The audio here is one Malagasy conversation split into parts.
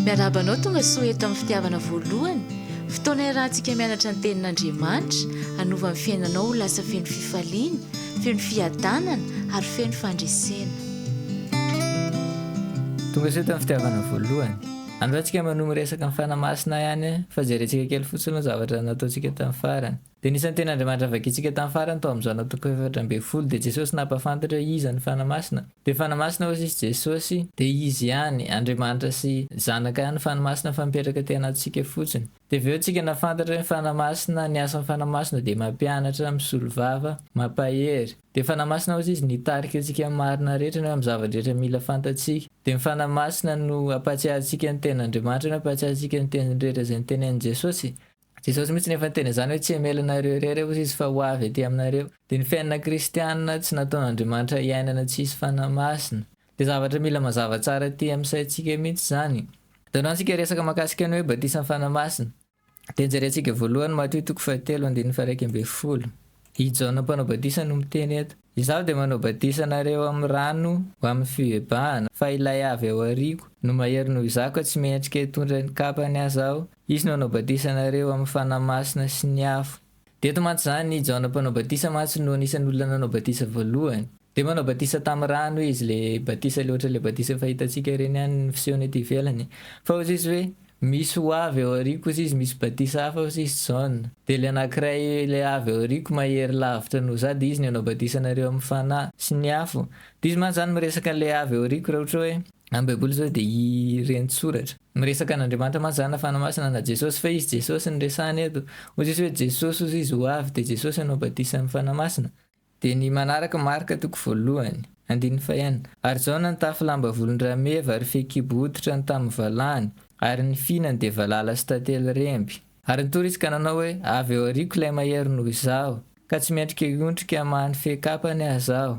Miarahaba anao tonga soa eto amin'ny fitiavana voalohany, fotoana iarahantsika mianatra ny tenin'Andriamanitra, hanova ny fiainanao ho lasa feno fifaliana, feno fiadanana ary feno fandresena. Tonga soa eto amin'ny fitiavana voalohany. Androany tsika manohy miresaka ny Fanahy Masina ihany fa jerentsika kely fotsiny aloha ny zavatra nataontsika tamin'ny farany. Dia ny isan'ny tena Andriamanitra navakintsika tamin'ny farany tao amin'izao na toko efatra ambin'ny folo dia Jesosy nampahafantatra hoe iza ny Fanahy Masina. Dia Fanahy Masina hozy izy Jesosy. Dia izy ihany, Andriamanitra sy Zanaka ihany ny Fanahy Masina fa mipetraka aty anatintsika fotsiny. Dia avy eo tsika nafantatra hoe ny Fanahy Masina, ny asan'ny Fanahy Masina dia mampianatra, misolo vava, mampahery. Dia Fanahy Masina hozy izy nitarika antsika amin'ny marina rehetra na hoe amin'ny zava-drehetra mila fantatsika. Dia ny Fanahy Masina no hampahatsiarintsika ny tenin'Andriamanitra na hampahatsiarintsika ny teniny rehetra izay notenenin'i Jesosy. Jesosy mihitsy no efa niteny izany hoe tsy hamelona ireo irery aho izy fa ho avy aty aminareo. Dia ny fiainana kristiana tsy nataon'Andriamanitra hiainana tsy hisy fanahy masina. Dia zavatra mila mazava tsara aty amin'ny saintsika mihitsy izany. Jereo antsika resaka mahakasika ny hoe batisan'ny fanahy masina. Dia jerentsika voalohany Matio toko fahatelo andininy faha iraika ambin'ny folo. I Jaona mpanao batisa no miteny eto. Izaho dia manao batisa anareo amin'ny rano ho amin'ny fibebahana, fa Ilay avy ao aoriako no mahery noho izaho ka tsy mendrika hitondra ny kapany aza aho. Izy no hanao batisa anareo amin'ny Fanahy Masina sy ny afo. Dia eto mantsy izany, i Jaona Mpanao Batisa mantsy no anisan'ny olona nanao batisa voalohany. Dia manao batisa tamin'ny rano izy, ilay batisa ilay ohatran'ilay batisa efa hitantsika ireny ihany ny fisehony ety ivelany. Fa hozy izy hoe, Misy ho avy ao aoriako kosa izy misy batisa hafa kosa izy John. Dia ilay anankiray ilay avy ao aoriako mahery lavitra noho za dia izy no hanao batisa anareo amin'ny Fanahy sy ny afo. Dia izy mantsy izany miresaka an'ilay avy ao aoriako raha ohatra hoe amin'ny baiboly izao dia i Reni-tsoratra. Miresaka an'Andriamanitra mantsy izany na Fanahy Masina na Jesosy fa izy Jesosy no resahina eto. Ozy izy hoe Jesosy ozy izy ho avy dia Jesosy hanao batisa amin'ny Fanahy Masina. Dia ny manaraka marika toko voalohany. Andininy fahenina. Ary izao nantafy lamba volon-drameva ary fehikibo hoditra ny tamin'ny valahany, ary ny fihinany dia valala sy tantely remby. Ary nitory izy ka nanao hoe, Avy ao aoriako ilay mahery noho izaho, ka tsy miatrika hiondrika hamaha ny fehin-kapany aza aho.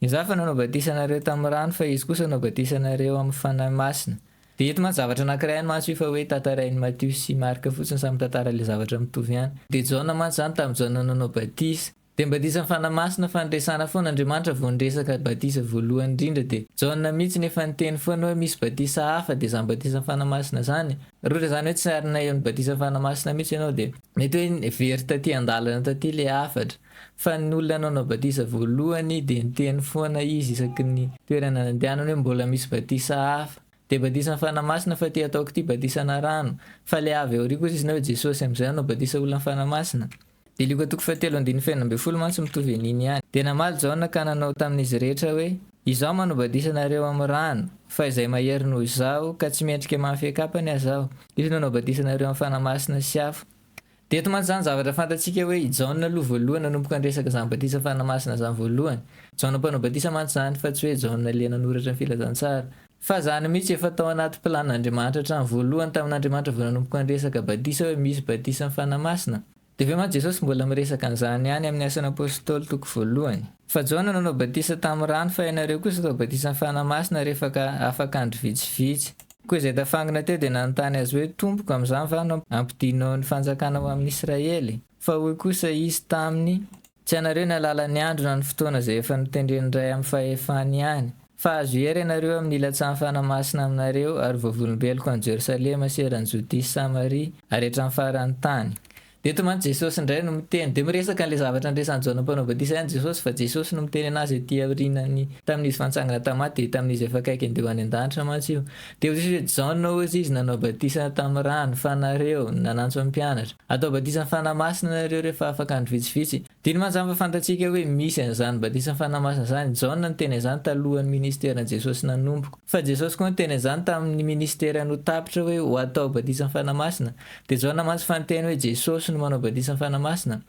Izaho efa nanao batisa anareo tamin'ny rano, fa izy kosa hanao batisa anareo amin'ny Fanahy Masina. Dia eto mantsy zavatra anankiray any mantsy io fa hoe tantarain'i Matio sy Marka fotsiny, samy mitantara ilay zavatra mitovy ihany. Dia Jaona mantsy izany, tamin'i Jaona nanao batisa. Dia mibadisa ny Fanahy Masina fa niresana foana Andriamanitra vao niresaka badisa voalohany indrindra dia Jaona mitsy nefa niteny foana hoe misy badisa hafa dia zany badisan'ny Fanahy Masina zany Rory izany hoe tsy arina eo ny badisan'ny Fanahy Masina mitsy ianao dia mety hoe very taty andalana taty le hafatra fa ny olona nanao badisa voalohany dia niteny foana izy isaky ny toerana nandehanany hoe mbola misy badisa hafa dia badisan'ny Fanahy Masina fa ty ataoko ty badisana rano fa le avy aoriako kosa izy na hoe Jesosy amizay nanao badisa olona ny Fanahy Masina Dia Lioka toko fahatelo andininy fahenina ambin'ny folo mantsy mitovy an'iny ihany. Dia namaly Jaona ka nanao tamin'izy rehetra hoe, Izaho manao-badisa anareo amin'ny rano, fa izay mahery noho izaho, ka tsy mendrika mafy an-kapany aza aho, izy no hanao-badisa anareo amin'ny Fanahy Masina sy afo. Dia eto mantsy izany zavatra fantatsika hoe i Jaona aloha voalohany nanomboka niresaka izany badisa amin'ny Fanahy Masina izany voalohany. Jaona mpanao-badisa mantsy izany, fa tsy hoe Jaona le nanoratra ny Filazantsara. Fa izany mihitsy efa tao anaty plan n'Andriamanitra hatrany voalohany tamin'Andriamanitra vao nanomboka niresaka batisa hoe misy batisan'ny Fanahy Masina. Dia ve mantsy Jesosy mbola miresaka an'izany ihany amin'ny Asan'ny Apôstôly toko voalohany. Fa Jaona nanao batisa tamin'ny rano fa ianareo kosa atao batisan'ny Fanahy Masina rehefaka afaka andro vitsivitsy. Koa izay tafangina teo dia nanontany azy hoe Tompoko amin'izany va no ampidinao ny fanjakana ho amin'Israely? Fa hoy kosa izy taminy. Tsy ianareo ny alalan'ny andro na ny fotoana izay efa notendren'ny Ray amin'ny fahefany ihany, fa azo hery ianareo amin'ny ilatsahan'ny Fanahy Masina aminareo ary vavolombeloko any Jerosalema sy eran'i Jodia sy Samaria ary hatramin'ny faran'ny tany. Dia eto mantsy Jesosy indray no miteny. Dia miresaka an'ilay zavatra niresan'i Jaona Mpanao Batisa ihany Jesosy, fa Jesosy no miteny an'azy ety aorianan'ny, tamin'izy fa nitsangana tamin'ny maty, dia tamin'izy efa akaiky handeha ho any an-danitra mantsy io. Dia hoy Jesosy hoe, Jaona hozy izy nanao batisa tamin'ny rano, fa nareo, nanantso ny mpianatra, hatao batisan'ny Fanahy Masina nareo rehefa afaka andro vitsivitsy. Diny mazava fantatsika hoe misy an'izany batisan'ny Fanahy Masina izany. Jaona niteny an'izany talohan'ny minisiteran'i Jesosy nanomboka. Fa Jesosy koa niteny an'izany tamin'ny minisiterany ho tapitra hoe ho atao batisan'ny Fanahy Masina. Dia Jaona mantsy fa niteny hoe Jesosy no manao batisan'ny Fanahy Masina.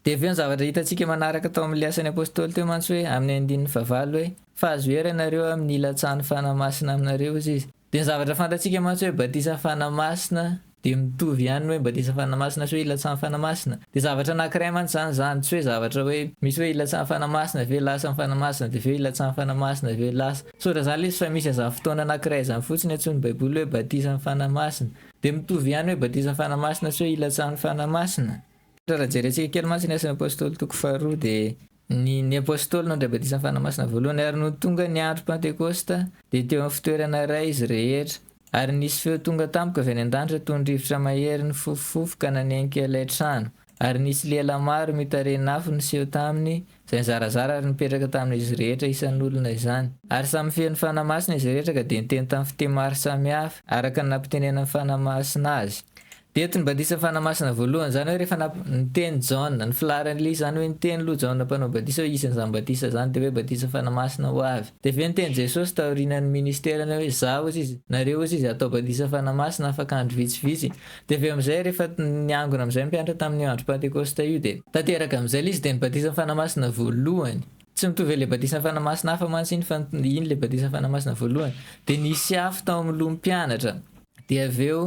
Dia avy eo ny zavatra hitantsika manaraka tao amin'ny Ny Asan'ny Apostoly teo mantsy hoe amin'ny andininy fahavalo hoe, fa azo hery ianareo amin'ny hilatsahan'ny Fanahy Masina aminareo, hoy izy. Dia ny zavatra fantatsika mantsy hoe batisa Fanahy Masina dia mitovy ihany ny hoe batisa Fanahy Masina sy hoe hilatsahan'ny Fanahy Masina. Dia zavatra anankiray mantsy izany izany, tsy hoe zavatra hoe misy hoe hilatsahan'ny Fanahy Masina avy eo lasa ny Fanahy Masina dia avy eo hilatsahan'ny Fanahy Masina avy eo lasa. Tsy ohatr'izany ilay izy fa misy an'izany fotoana anankiray izany fotsiny antsoin'ny Baiboly hoe batisan'ny Fanahy Masina. Dia mitovy ihany ny hoe batisan'ny Fanahy Masina sy hoe hilatsahan'ny Fanahy Masina. Raha jerentsika kely mantsy ny Asan'ny Apostoly toko faharoa dia Ny ny Apôstôly nandray batisan'ny Fanahy Masina voalohany ary nony tonga ny andro Pantekôsta dia teo amin'ny fitoerana iray izy rehetra. Ary nisy feo tonga tamiko avy any an-danitra toy ny rivotra mahery nifofofofoka nanenika ilay trano. Ary nisy lela maro mitarehin'afo niseho taminy izay nizarazara ary nipetraka tamin'izy rehetra isan'olona izany. Ary samy feno Fanahy Masina izy rehetra ka dia niteny tamin'ny fiteny maro samihafa araka ny nampitenenan'ny Fanahy Masina azy. Eto ny batisa fanamasina voalohany, izany hoe rehefa nap, niteny Jaona, ny filaharan'ny lily, izany hoe niteny loha Jaona mpanao batisa hoe hisy an'izany batisa izany, dia hoe batisa fanamasina ho avy. Dia avy eo niteny Jesosy taorianan'ny ministerany hoe izaho hozy izy, nareo hozy izy hatao batisa fanamasina afaka andro vitsivitsy. Dia avy eo amin'izay rehefa niangona amin'izay ny mpianatra tamin'io andro pantekosta io dia. Tanteraka amin'izay ilay izy dia ny batisa fanamasina voalohany. Tsy mitovy amin'ilay batisa fanamasina hafa mantsy iny fa iny ilay batisa fanamasina voalohany. Dia nisy afo tao amin'ny loha ny mpianatra. Dia avy eo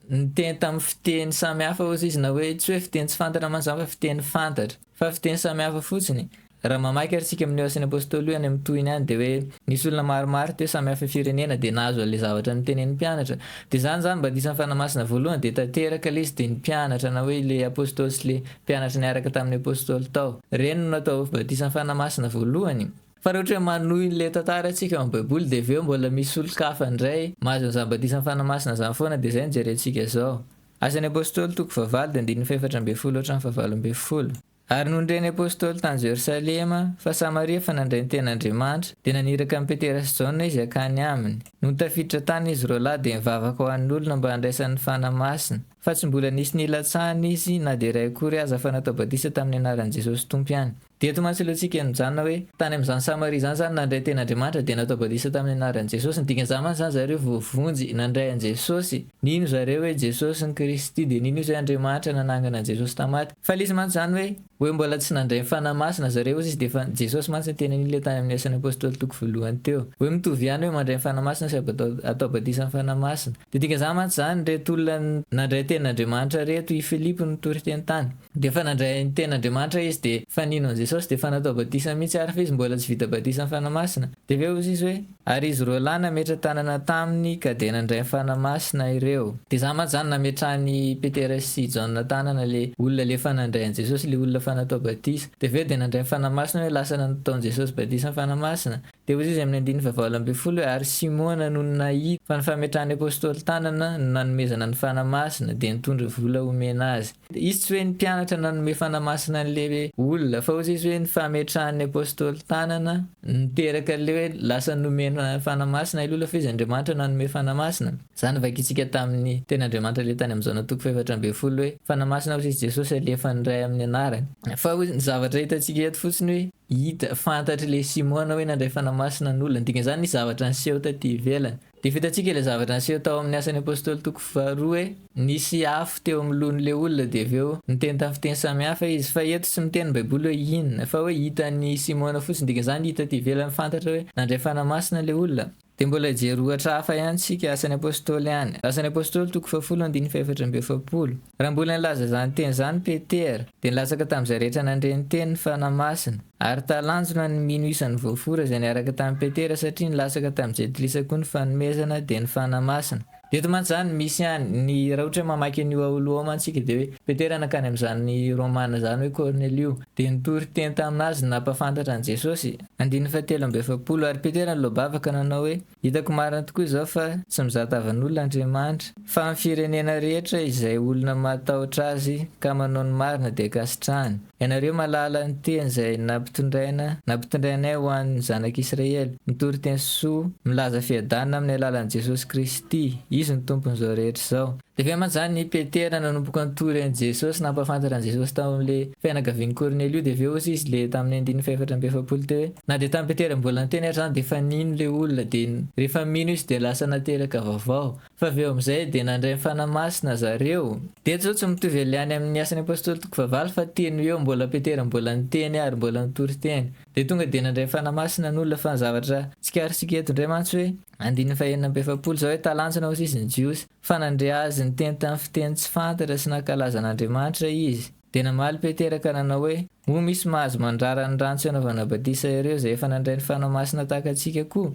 Niteny tamin'ny fiteny samy hafa osa izy na hoe tsy hoe fiteny tsy fantatra mantsy izany fa fiteny fantatra fa fiteny samy hafa fotsiny. Raha mamaky ary isika amin'ny Asan'ny Apôstôly io any amin'ny tohiny any dia hoe nisy olona maromaro teo samy hafa firenena dia nahazo an'ilay zavatra notenenin'ny mpianatra. Dia izany izany mba ny isan'ny Fanahy Masina voalohany dia tanteraka ilay izy dia ny mpianatra na hoe ilay Apôstôly sy ilay mpianatra niaraka tamin'ny Apôstôly tao ireny no natao batisan'ny Fanahy Masina voalohany. Fa raha ohatra hoe manohy ilay tantara antsika ao amin'ny baiboly dia avy eo mbola misy olon-kafa indray mahazo ny zava-batisan'ny Fanahy Masina izany foana dia izay no jerentsika izao. Asan'ny Apostoly toko fahavalo dia andininy fahefatra ambin'ny folo hatramin'ny fahavalo ambin'ny folo. Ary nony ny Apostoly tany Jerosalema fa Samaria efa nandray ny tena Andriamanitra dia naniraka an'i Petera sy Jaona izy hakany aminy. Nony tafiditra tany izy roa lahy dia nivavaka ho an'ny olona mba handraisany ny Fanahy Masina. Fa tsy mbola nisy nilatsahana izy na dia iray akory aza fa natao batisa tamin'ny anaran'i Jesosy Tompo ihany. Dia eto mantsy ilay tsika nijanona hoe, tany amin'izany Samaria izany izany nandray tena Andriamanitra dia natao batisa tamin'ny anaran'i Jesosy. Ny dikan'izany mantsy izany zareo voavonjy nandray an'i Jesosy. Nino zareo hoe Jesosy no Kristy dia nino izy hoe Andriamanitra nanangana an'i Jesosy tamin'ny maty. Fa ilay izy mantsy izany hoe, hoe mbola tsy nandray ny Fanahy Masina zareo hozy izy dia efa Jesosy mantsy ny tenany ilay tany amin'ny Asan'ny Apostoly toko voalohany teo. Hoe mitovy ihany hoe mandray ny Fanahy Masina sy atao batisa amin'ny Fanahy Masina. Dia dikan'izany mantsy izany, ireto olona nandray tenin'Andriamanitra ireto, i Filipo nitory teny tany. Dia efa nandray ny tenin'Andriamanitra izy, dia efa nino an'i Jesosy, dia efa natao batisa mihitsy ary, fa izy mbola tsy vita batisa amin'ny Fanahy Masina. Dia avy eo hoy izy hoe, Ary izy roa lahy nametra-tanana taminy ka dia nandray ny Fanahy Masina ireo. Dia izany mantsy izany, nametrahan'i Petera sy Jaona tanana ilay olona ilay efa nandray an'i Jesosy, ilay olona efa natao batisa. Dia avy eo dia nandray ny Fanahy Masina hoe lasa nataon'i Jesosy batisa amin'ny Fanahy Masina. Dia hoy Jesosy amin'ny andininy fahavalo ambin'ny folo hoe, Ary Simona nony nahita fa ny fametrahan'ny Apôstôly tanana no nanomezana ny Fanahy Masina, dia nitondra vola homena azy. Izy tsy hoe ny mpianatra nanome Fanahy Masina an'ilay olona, fa hoy Jesosy hoe ny fametrahan'ny Apôstôly tanana no niteraka an'ilay hoe lasa nomena Fanahy Masina ilay olona, fa Izy Andriamanitra nanome Fanahy Masina. Izany novakintsika tamin'ny teny Andriamanitra ilay tany amin'ny Jaona toko fahefatra ambin'ny folo hoe, Fanahy Masina hoy Jesosy alefan'ny Ray amin'ny anarany. Fa hoy ny zavatra hitantsika eto fotsiny hoe Hita, fantatry le Simona hoe nandray Fanahy Masina ny olona. Dika zany nisy zavatra niseho taty ivelany. Dia fitantsika ilay zavatra niseho tao amin'ny Asan'ny Apostoly toko faharoa hoe nisy afo teo amin'ny lohan'ilay olona dia avy eo niteny tamin'ny fiteny samihafa izy. Fa eto tsy miteny ny Baiboly hoe inona, fa hoe hitan'i Simona fotsiny. Dika zany hita aty ivelany fantatra hoe nandray Fanahy Masina ilay olona. Dia mbola hijery ohatra hafa ihany isika, Asan'ny Apôstôly any. Asan'ny Apôstôly, toko fahafolo andininy fahefatra amby efapolo. Raha mbola nilaza izany teny izany Petera, dia nilatsaka tamin'izay rehetra nandre ny teny ny Fanahy Masina. Ary talanjona ny mino isan'ny voafora izay niaraka tamin'i Petera, satria nilatsaka tamin'i Jentilisa koa ny fanomezana, dia ny Fanahy Masina. Eto mantsy izany misy ihany, ny raha ohatra hoe mamaky an'io aoluôma antsika dia hoe, Petera nankany amin'izany Romana izany hoe Kornelio, dia nitory teny tamin'azy ny nampahafantatra an'i Jesôsy. Andininy fahatelo amby efapolo, Ary Petera niloa-bava ka nanao hoe, Hitako marina tokoa izao fa tsy mizaha tavan'olona Andriamanitra, fa amin'ny firenena rehetra izay olona mahatahotra azy ka manao ny marina dia ankasitrahany. Ianareo mahalala ny teny izay nampitondraina, nampitondrainay ho an'ny zanak'Israely, mitory teny soa, milaza fiadanana amin'ny alalan'i Jesosy Kristy, Izy no Tompon'izao rehetra izao. Dia avy aman-jany i Petera nanomboka nitory an'i Jesosy, nampahafantatra an'i Jesosy tao amin'ilay fianakavian'i Kornelio, dia avy eo osa izy ilay tamin'ny andininy fahefatra amby efapolo teo hoe, Na dia tamin'i Petera mbola niteny ary izany dia efa nino ilay olona, dia rehefa mino izy dia lasa nateraka vaovao. Fa avy eo amin'izay dia nandray ny Fanahy Masina zareo. Dia eto izao tsy mitovy ely any amin'ny Asan'ny Apostoly toko fahavalo fa teny eo mbola Petera mbola niteny ary mbola nitory teny. Dia tonga dia nandray ny Fanahy Masina ny olona fa ny zavatra tsikarintsika eto indray mantsy hoe andininy fahenina amby efapolo izao hoe talanjona ho sisa ny Jiosy. Fa nandre azy niteny tamin'ny fiteny tsy fantatra sy nankalaza an'Andriamanitra izy. Dia namaly Petera ka nanao hoe, Moa misy mahazo mandrara ny rano tsy anaovana batisa ireo izay efa nandray ny Fanahy Masina tahaka antsika koa?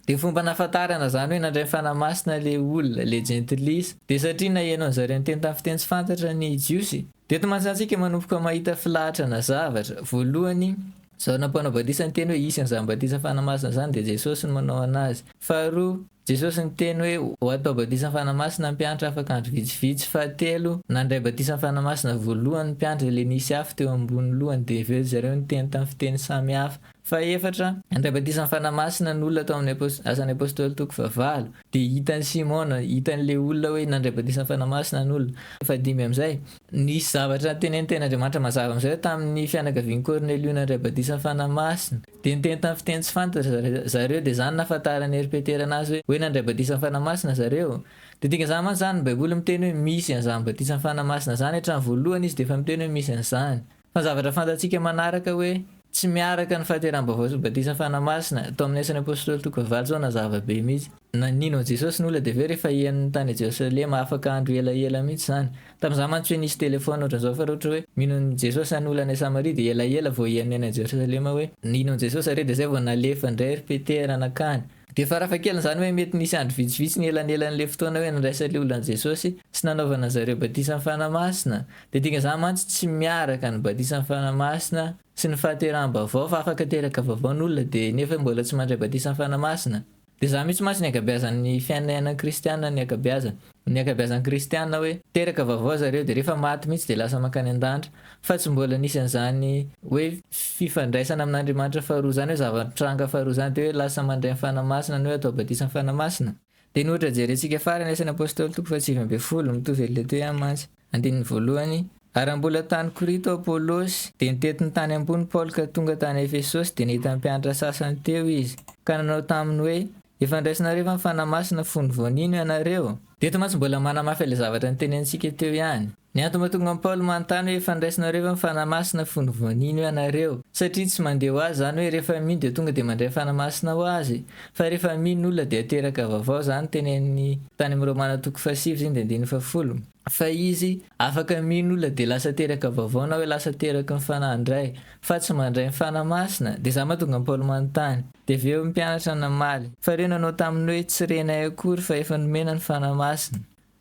Dia fomba hanafantarana izany hoe nandray ny Fanahy Masina ilay olona, ilay jentilisa, dia satria naheno an-dry zareo niteny tamin'ny fiteny tsy fantatra ny Jiosy. Dia eto mantsy antsika manomboka mahita filahatra na zavatra. Voalohany, izao nampanao batisa niteny hoe hisy an'izany batisa Fanahy Masina izany dia Jesosy no manao an'azy. Faharoa. Jesosy niteny hoe ho atao batisa fanamasina ny mpiantra afaka andro vitsivitsy fahatelo nandray batisa fanamasina voalohany ny mpiantra le nisy afo teo ambony lohany de aveo ry zareo niteny tam fiteny samy hafa fahefatra nandray batisa fanamasina ny olona tao amin'ny asan'ny apostoly toko fahavalo de hitan'i simona hitan'ny le olona hoe nandray batisa fanamasina ny olona fahadimy amizay nisy zavatra tenenitenin'Andriamanitra mazava amizay hoe tamin'ny fianakavian'i kornelio nandray batisa fanamasina Dia niteny tamin'ny fiteny tsy fantatra zareo, dia izany no nahafantaran'i Hery Petera anazy hoe, hoe nandray batisan'ny Fanahy Masina zareo. Dia dikan'izany mantsy izany ny Baiboly miteny hoe misy an'izany batisan'ny Fanahy Masina izany, hatramin'ny voalohany izy dia efa miteny hoe misy an'izany. Fa ny zavatra fantatsika manaraka hoe, tsy miaraka ny fahateraham-baovao sy ny batisan'ny Fanahy Masina, tao amin'ny Asan'ny Apôstôly toko fahavalo izao nazava be mihitsy. Nanino an'i Jesosy ny olona, dia avy eo rehefa hihaino ny tany Jerosalema afaka andro elaela mihitsy izany. Tamin'izaho mantsy hoe nisy telefaona ohatran' izao fa raha ohatra hoe mino an'i Jesosy zany olona any Samaria dia elaela vao hihaino ny any Jerosalema hoe nino an'i Jesosy zareo dia izay vao nalefa indray ry Petera nankany. Dia farafahakeliny izany hoe mety nisy andro vitsivitsy nielanelan'ilay fotoana hoe nandraisan'ilay olona an'i Jesosy sy nanaovana an' zareo batisa ny Fanahy Masina. Dia dikan'izany mantsy tsy miaraka ny batisa ny Fanahy Masina sy ny fahateraham-baovao fa afaka teraka vaovao ny olona dia nefa mbola tsy mandray batisa ny Fanahy Masina. Dia zany mihitsy mantsy ny ankabeazan'ny fiainainan kristiana ny ankabeazany. Ny ankabeazan'ny kristiana hoe teraka vaovao zareo dia rehefa maty mihitsy dia lasa mankany andanitra fa tsy mbola nisy an'izany hoe fifandraisana amin'Andriamanitra faharoa zany hoe zava-nitranga faharoa zany dia hoe lasa mandray ny fanahy masina ny hoe atao batisa ny fanahy masina dia ny ohatra jerentsika farany asan'ny apostoly toko faha sivy ambin'ny folo mitovy an'ilay teo ihany mantsy. Andininy voalohany, Ary raha mbola tany Korito Apolosy, dia nitety ny tany ambony Paoly ka tonga tany Efesosy dia nahita ny mpianatra sasany teo izy, ka nanao taminy hoe, Efa andraisinareo efa ny Fanahy Masina fony vao nino ianareo? Dia eto mantsy mbola manamafy ilay zavatra notenenintsika teo ihany. Ny antony mahatonga an'i Paoly manontany hoe efa andraisinareo efa ny Fanahy Masina fony vao nino ianareo, satria tsy mandeha ho azy izany hoe rehefa mino dia tonga dia mandray Fanahy Masina ho azy, Fa rehefa mino olona dia teraka vaovao zany teneniny tany am romana toko faha sivy ziny dia andininy faha folo fa izy afaka mino olona dia lasa teraka vaovao na hoe lasa teraky ny fanahy indray fa tsy mandray ny fanahy masina dia za mahatonga an paoly manontany dia avy eo ny mpianatra namaly fa reo nanao taminy hoe tsy renay akory fa efa nomena ny fanahy masina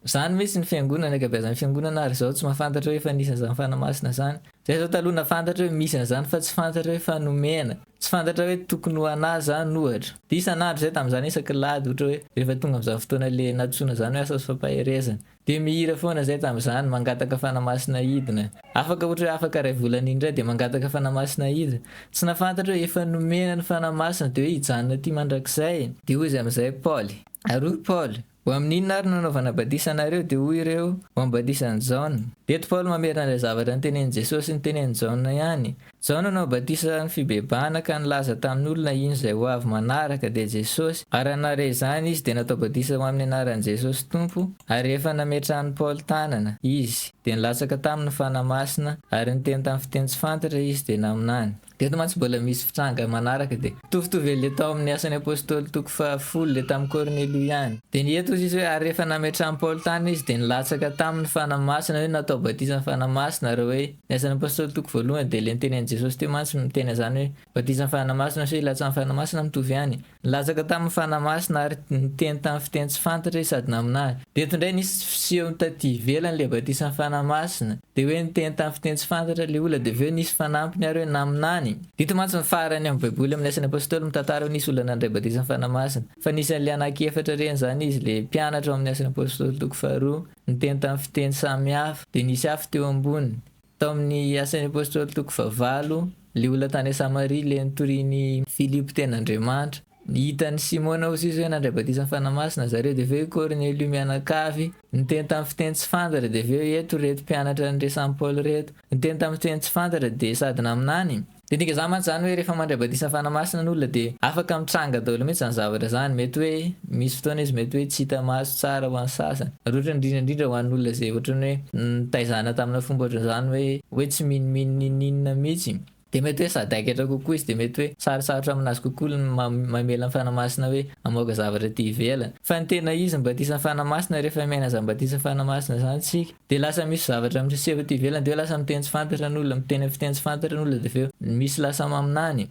Zany mintsy ny fiangonana ankabeazan'ny fiangonana ary zao tsy mafantatra hoe efa nisy an'zany fanamasina zany. Zay zao taloha nafantatra hoe misy an'zany fa tsy fantatra hoe efa nomena. Tsy fantatra hoe tokony ho anah zany ohatra. De isan'andro zay tam'zany isaky lahady ohatra hoe rehefa tonga am'zany fotoana le natosoana zany hoe asan'ny fampaherezana. De mihira foana zay tam'zany mangataka fanamasina hidina. Afaka ohatra hoe afaka ray volana iny ndray de mangataka fanamasina hidina. Tsy nafantatra hoe efa nomena ny fanamasina de hoe hijanona aty mandrakizay. De hoy izy am'zay Paoly. Ary hoy Paoly. Ho amin'ny inona ary no anaovana badisa anareo? Dia hoy ireo, Ho amin'ny badisan'i Jaona. Eto Paoly mamerina ilay zavatra notenenin'i Jesosy sy notenenin'i Jaona ihany. Jaona nanao badisa ny fibebahana ka nilaza tamin'ny olona ino izay ho avy manaraka, dia Jesosy, ary hanareo izany izy dia natao badisa ho amin'ny anaran'i Jesosy Tompo, ary rehefa nametrahan'i Paoly tanana, izy, dia nilatsaka taminy ny Fanahy Masina, ary niteny tamin'ny fiteny tsy fantatra izy dia naminany. Dia eto mantsy mbola misy fitranga manaraka dia. Mitovitovy an'ilay tao amin'ny Asan'ny Apostoly toko faha folo, ilay tamin'i Kornelio ihany. Dia ny eto hoy izy hoe, ary rehefa nametrahan'i Paoly tany izy dia nilatsaka taminy Fanahy Masina hoe natao batisa ny Fanahy Masina ary hoe ny Asan'ny Apostoly toko voalohany dia ilay notenenin'i Jesosy teo mantsy miteny an'izany hoe batisa ny Fanahy Masina sy hoe hilatsahan'ny Fanahy Masina mitovy ihany Nilatsaka tamin'ny Fanahy Masina ary niteny tamin'ny fiteny tsy fantatra izy sady naminany. Dia eto indray nisy fiseho taty ivelany ilay batisan'ny Fanahy Masina. Dia hoe niteny tamin'ny fiteny tsy fantatra ilay olona dia avy eo nisy fanampiny ary hoe naminany. Dito mantsy ny farany amin'ny baiboly amin'ny asan'ny apostoly mitantara hoe nisy olona nandray batisan'ny Fanahy Masina. Fa anisan'ilay anaky efatra reny izany izy, ilay mpianatra ao amin'ny asan'ny apostoly toko faharoa, niteny tamin'ny fiteny samy hafa. Dia nisy hafa teo amboniny. Tao amin'ny Asan'ny Apôstôly toko fahavalo, ilay olona tany Samaria ilay notorian'i Filipo teny Andriamanitra. Hitan'i Simôna ho sisa hoe nandray batisan'ny Fanahy Masina zareo, dia avy eo i Kôrnelio mianakavy, niteny tamin'ny fiteny tsy fantatra, dia avy eo eto ireto mpianatra niresahin'i Paoly ireto, niteny tamin'ny fiteny tsy fantatra, dia sady naminany, Midika izany mantsy izany hoe rehefa mandray batisa fanahy masina ny olona dia afaka mitranga daholo mihitsy izany zavatra izany. Mety hoe misy fotoana izy mety hoe tsy hita maso tsara ho an'ny sasany. Ary ohatrany indrindra indrindra ho an'ny olona izay ohatrany hoe nitaizana tamina fomba ohatran'izany hoe hoe tsy minomino n'inon'inona mihitsy, dia mety hoe sady haikatra kokoa izy dia mety hoe sarotsarotra aminazy kokoa ny mamela ny fanahy masina hoe hamoaka zavatra aty ivelany. Fa ny tena izy ny batisa fanahy masina rehefa miaina izany batisa fanahy masina izany isika. Dia lasa misy zavatra miseho aty ivelany dia hoe lasa miteny tsy fantatra ny olona, miteny amin'ny fiteny tsy fantatra ny olona dia avy eo misy lasa maminany.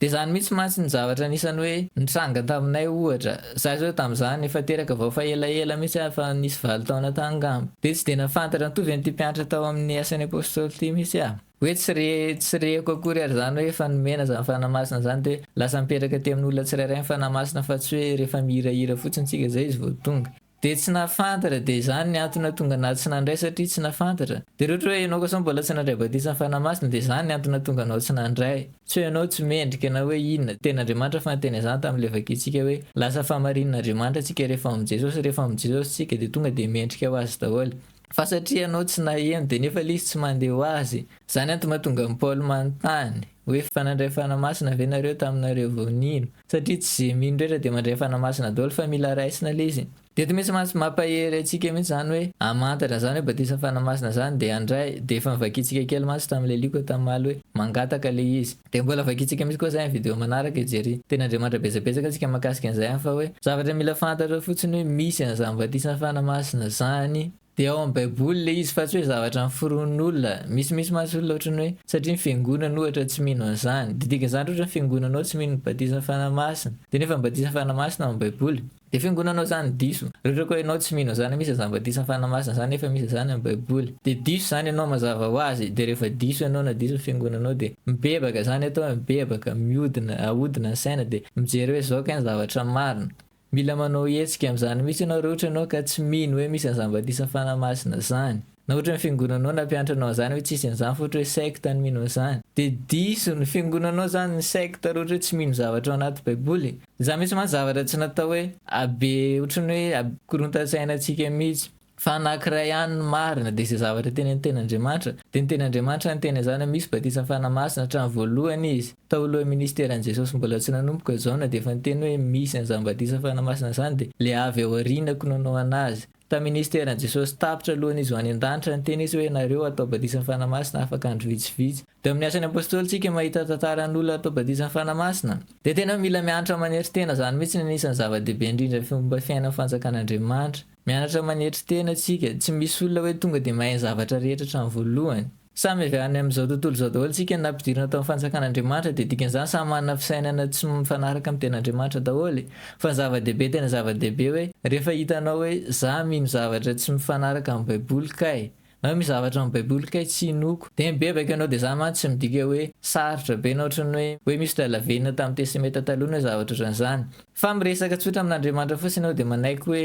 Dia izany mihitsy mantsy ny zavatra anisan'ny hoe nitranga taminay ohatra. Izaho izao tamin'izany efa teraka vao efa elaela mihitsy aho, efa nisy valo taona tany angamba. Dia tsy dia nahafantatra an'ity ve an'ity mpianatra tao amin'ny Asan'ny Apostoly ity mihitsy aho. Hoe tsy re, tsy reko akory ary izany hoe efa nomena izany fanahy masina izany dia hoe lasa mipetraka aty amin'olona tsirairay ny fanahy masina fa tsy hoe rehefa mihirahira fotsiny tsika izay izy vao tonga. Dia tsy nahafantatra, dia izany ny antony nahatonga anao tsy nandray satria tsy nahafantatra. Dia raha ohatra hoe ianao kosa mbola tsy nandray batisan'ny Fanahy Masina dia izany ny antony nahatonga anao tsy nandray. Tsy hoe ianao tsy mendrika na hoe inona. Tenin'Andriamanitra fa niteny an'izany tamin'ny levakintsika hoe lasa fahamarinan'Andriamanitra tsika rehefa ao amin'i Jesosy. Rehefa ao amin'i Jesosy tsika dia tonga dia mendrika ho Azy daholo. Fa satria ianao tsy naheno dia nefa ilay izy tsy mandeha ho azy. Izany an tomatonga an'i Paoly manontany hoe fa nandray fanahy masina ve nareo taminareo vao nino? Satria tsy izay mino rehetra dia mandray fanahy masina daholo fa mila raisina ilay izy. Dia eto misy mas mampahery antsika mihitsy izany hoe hamantatra izany hoe batisan'ny fanahy masina izany dia handray dia efa novakiantsika kely mantsy tamin'ilay lioka tamimaly hoe mangataka ilay izy. Dia mbola vakintsika misy koa izay amin'ny video manaraka e Jerry. Teny Andriamanitra betsabetsaka tsika mahakasika an'izay an fa hoe zavatra mila fantatrao fotsiny hoe misy an'izany batisa fana masina zany. Dia ao amin'ny baiboly ilay izy fa tsy hoe zavatra noforonin'olona. Misy misy mantsy olona ohatrany hoe satria ny fiangonana ohatra tsy mino an'izany. Dia dikan'izany ohatra ny fiangonanao tsy mino ny batisa fana masina. Dia nefa ny batisa fana masina ao amin'ny baiboly. De fiangonanao zany diso. Reko koa enao tsy mino zany misy azambadisa fana masina zany nefa misy zany am baiboly de diso zany enao mazava ho azy de refa diso enao na diso ny fiangonanao de mibebaka zany atao oe mibebaka miodina ahodina ny saina de mijery oe zao kay ny zavatra marina mila manao hetsika am zany mitsy enao re otranao ka tsy mino oe misy azambadisa fana masina zany. Na ohatra ny fiangonanao nampianatra anao an'izany hoe tsisy an'izany fa ohatra hoe secte no mino an'izany. Dia diso ny fiangonanao izany ny secte raha ohatra hoe tsy mino zavatra ao anaty baiboly e. Za mintsy mantsy zavatra tsy natao hoe abe ohatra ny hoe abe korontan-tsaina antsika mintsy. Fa anakiray ihany ny marina dia izay zavatra teny amin'ny ten'Andriamanitra. Dia ny ten'Andriamanitra niteny an'izany hoe misy batisan'ny Fanahy Masina hatramin'ny voalohany izy. Tao alohan'ny ministeran'i Jesosy mbola tsy nanomboka Jaona dia efa niteny hoe misy an'izany batisan'ny Fanahy Masina izany dia ilay avy ao aoriana ko nanao anazy. Tamin'ny ministeran'i Jesosy tapitra alohan'izy ho any an-danitra, niteny izy hoe, Ianareo hatao batisan'ny Fanahy Masina afaka andro vitsivitsy. Teo amin'ny asan'ny apostoly tsika mahita tantaran'olona hatao batisan'ny Fanahy Masina. Dia tena mila mianatra manetry tena, izany mihitsy no anisan'ny zava-dehibe indrindra amin'ny fomba fiainan'ny fanjakan'Andriamanitra. Mianatra manetry tena tsika. Tsy misy olona hoe tonga dia mahay ny zavatra rehetra hatramin'ny voalohany. Samy avy any amin'izao tontolo izao daholo isika na ampidirina tao amin'ny fanjakan'Andriamanitra dia dikan'izany samy manana fisainana tsy mifanaraka amin'ny ten'Andriamanitra daholo e! Fa ny zava-dehibe tena zava-dehibe hoe rehefa hitanao hoe za mino zavatra tsy mifanaraka amin'ny baiboly kay na hoe misy zavatra amin'ny baiboly kay tsy inoako dia mibebaka ianao dia izany mantsy tsy midika hoe sarotra be na ohatran'ny hoe hoe misy olona lavenona tamin'ny tesemeta taloha na hoe zavatra ohatran'izany fa miresaka tsotra amin'Andriamanitra fotsiny ianao dia manaiky hoe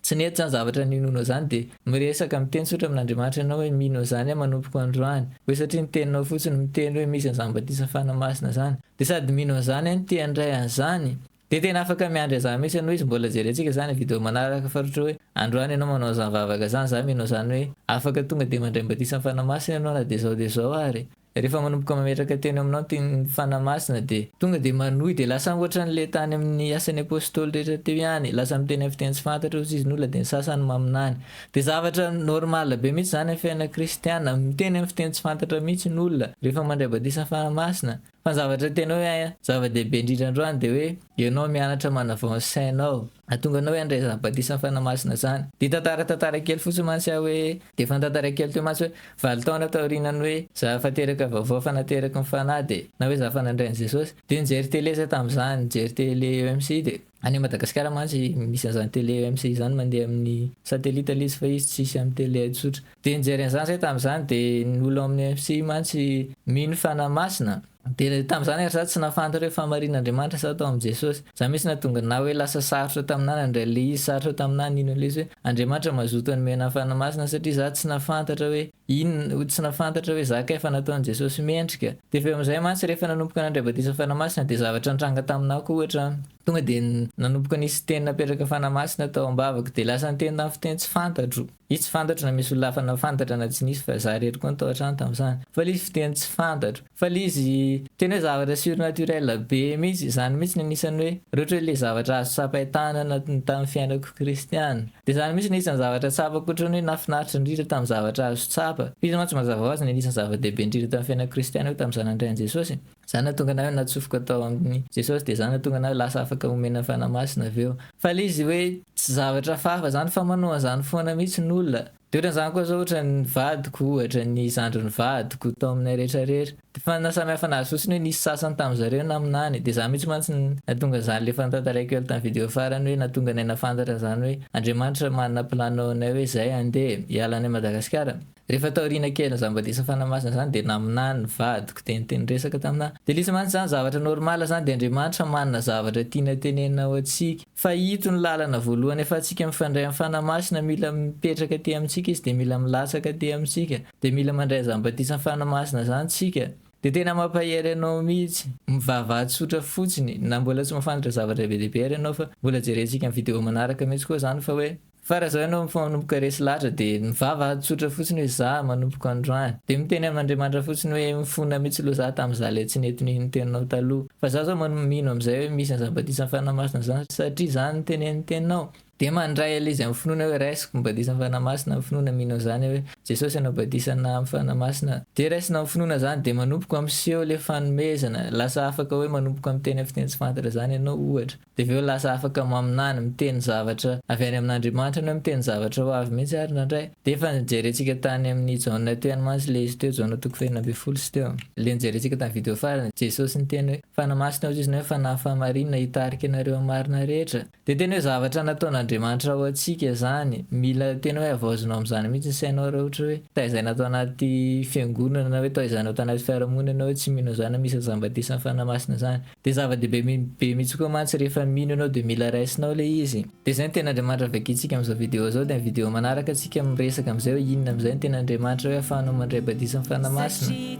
Tsy nety zany zavatra ninoanao izany dia miresaka miteny tsotra amin'Andriamanitra ianao hoe mino an'izany aho manompoka androany hoe satria ny teninao fotsiny miteny hoe misy an'izany batisa fanahy masina izany dia sady mino an'izany aho no te handray an'izany dia tena afaka miandry an'izany mihitsy ianao izy mbola jerentsika izany video manaraka faharoatra hoe androany ianao manao an'izany vavaka izany za mino an'izany hoe afaka tonga dia mandray ny batisan'ny fanahy masina ianao na dia izao dia izao ary Rehefa manomboka mametraka teny aminao ny tenin'ny Fanahy Masina dia. Tonga dia manohy dia lasa ankoatran'ilay tany amin'ny asan'ny Apostoly rehetra teo ihany, lasa miteny amin'ny fiteny tsy fantatra hozy izy nola dia ny sasany maminany. Dia zavatra normal be mihitsy izany amin'ny fiainana kristiana, miteny amin'ny fiteny tsy fantatra mihitsy ny olona rehefa mandray batisan'ny Fanahy Masina. Fa ny zavatra tena hoe zava-dehibe indrindra androany dia hoe ianao mianatra manavao ny sainao. Ahatonga anao hiandry izany batisan'ny Fanahy Masina izany. Dia tantara tantara kely fotsiny mantsy aho hoe, dia efa nitantara kely teo mantsy hoe, valo taona taorianan'ny hoe za efa teraka vaovao efa nateraky ny Fanahy dia, na hoe za efa nandray an'i Jesosy. Dia nijery tele za tamin'izany, nijery tele EMC dia. Any Madagasikara mantsy misy an'izany tele EMC izany mandeha amin'ny satellite ilay izy fa izy tsy hisy amin'ny tele tsotra. Dia nijery an'izany zay tamin'izany dia ny olo amin'ny MFC mantsy mino fa na masina. Dia tamin'izany ary za tsy nahafantatra hoe fahamarinan' Andriamanitra sa tao amin'i Jesosy. Za mihitsy nahatonga na hoe lasa sarotra taminah nandray le izy, sarotra taminah nino an'le izy hoe Andriamanitra mazoto hanome anah fanahy masina satria za tsy nahafantatra hoe inona, tsy nahafantatra hoe za kay fa nataon'i Jesosy mendrika. Dia avy eo amin'izay mantsy rehefa nanomboka nandray batisa fanahy masina dia zavatra nitranga taminah koa ohatra tonga dia nanomboka nisy teny napetraka fanahy masina tao ambavako dia lasa niteny tamin'ny fiteny tsy fantatro. Izy tsy fantatro na misy olona hafa nahafantatra na tsy nisy fa za irery koa no tao an-trano tamin'izany. Fa ilay izy fiteny tsy fantatro. Fa ilay izy tena hoe zavatra surnaturel be mihitsy. Izany mihitsy no anisan'ny hoe rehetra hoe ilay zavatra azo tsapain-tanana tamin'ny fiainako kristiana. Dia izany mihitsy no anisan'ny zavatra tsapako ohatran'ny hoe nahafinaritra indrindra tamin'ny zavatra azo tsapa. Fa izy mantsy mazava ho azy no anisan'ny zava-dehibe indrindra tamin'ny fiainako kristiana hoe tamin'izaho nandray an'i Jesosy. Za nahatonga anareo natsofoka tao aminy Jesosy dia za nahatonga anareo lasa afaka omena fanahy masina avy eo. Fa le izy hoe tsy zavatra hafahafa zany fa manao an'izany foana mihitsy ny olona. De ohatrany zany koa zao ohatrany ny vadiko ohatra, ny zandrin'ny vadiko tao aminay rehetra rehetra. De fa nasamihafa anazy fotsiny hoe nisy sasany tamin'zareo naminany. De za mihitsy mantsy nahatonga an'izany le efa notantaraiko ela tamin'ny video farany hoe nahatonga anay nahafantatra an'izany hoe Andriamanitra manana plan ao anay hoe zay andeha hiala any Madagasikara. Rehefa taoriana kely ny zambadisa fanamasina zany dia naminany ny vadiko dia niteny resaka tamina dia lisy mantsy zany zavatra normal zany dia Andriamanitra manana zavatra tiana tenenina ho antsika fa ito ny lalana voalohany afatsika mifandray amin'ny fanamasina mila mipetraka aty amintsika izy dia mila milatsaka aty amintsika dia mila mandray zambadisa fanamasina zany tsika dia tena mampahery anao mitsy. Mivavaha tsotra fotsiny na mbola tsy mafantatra zavatra be dia be ary ianao fa mbola jerentsika ny video manaraka mitsy koa zany fa hoe Fa raha zao ianao mifanomboka resy lahatra de mivava ady tsotra fotsiny hoe za manomboko androany de miteny am Andriamanitra fotsiny hoe mifona mitsy lo za tam za le tsy nety ny niteninao taloha fa za zao mano mino am zay hoe misy an zabadisan fanamasina zany satria zany ny tenen ny teninao de mandray ale izy am finoana hoe raisiko ny badisan fanamasina am finoana mino an zany hoe Jesosy anao badisana am fanamasina de raisina am finoana zany de manomboko am seho le fanomezana lasa afaka hoe manomboko am teny am fiteny tsy fantatra zany ianao ohatra Dia avy eo lasa afaka maminany, miteny zavatra avy any amin'Andriamanitra na hoe miteny zavatra ho avy mihitsy ary indraindray. Dia efa nojerentsika tany amin'ny Jaona teny mantsy ilay izy teo, Jaona toko fahenina ambin'ny folo sy teo. Ilay nojerentsika tamin'ny video farany, Jesosy niteny hoe, Fanahy masina hoy Izy na hoe fanahy fahamarinana hitarika anareo amin'ny marina rehetra. Dia tena hoe zavatra nataon'Andriamanitra ho antsika izany. Mila tena hoe havaozina ao amin'izany mihitsy ny sainao raha ohatra hoe taizaina tao anaty fiangonana na hoe taizaina tao anaty fiarahamonina ianao hoe tsy mino an'izany na misy an'izany batisan'ny Fanahy Masina izany. Dia zava-dehibe be mihitsy koa mantsy rehefa mino ianao dia mila raisinao ilay izy. Dia izay ny tena Andriamanitra vakintsika amin'izao video izao dia ny video manaraka tsika miresaka amin'izay hoe inona amin'izay no tena Andriamanitra hoe ahafahanao mandray badisin'ny Fanahy Masina.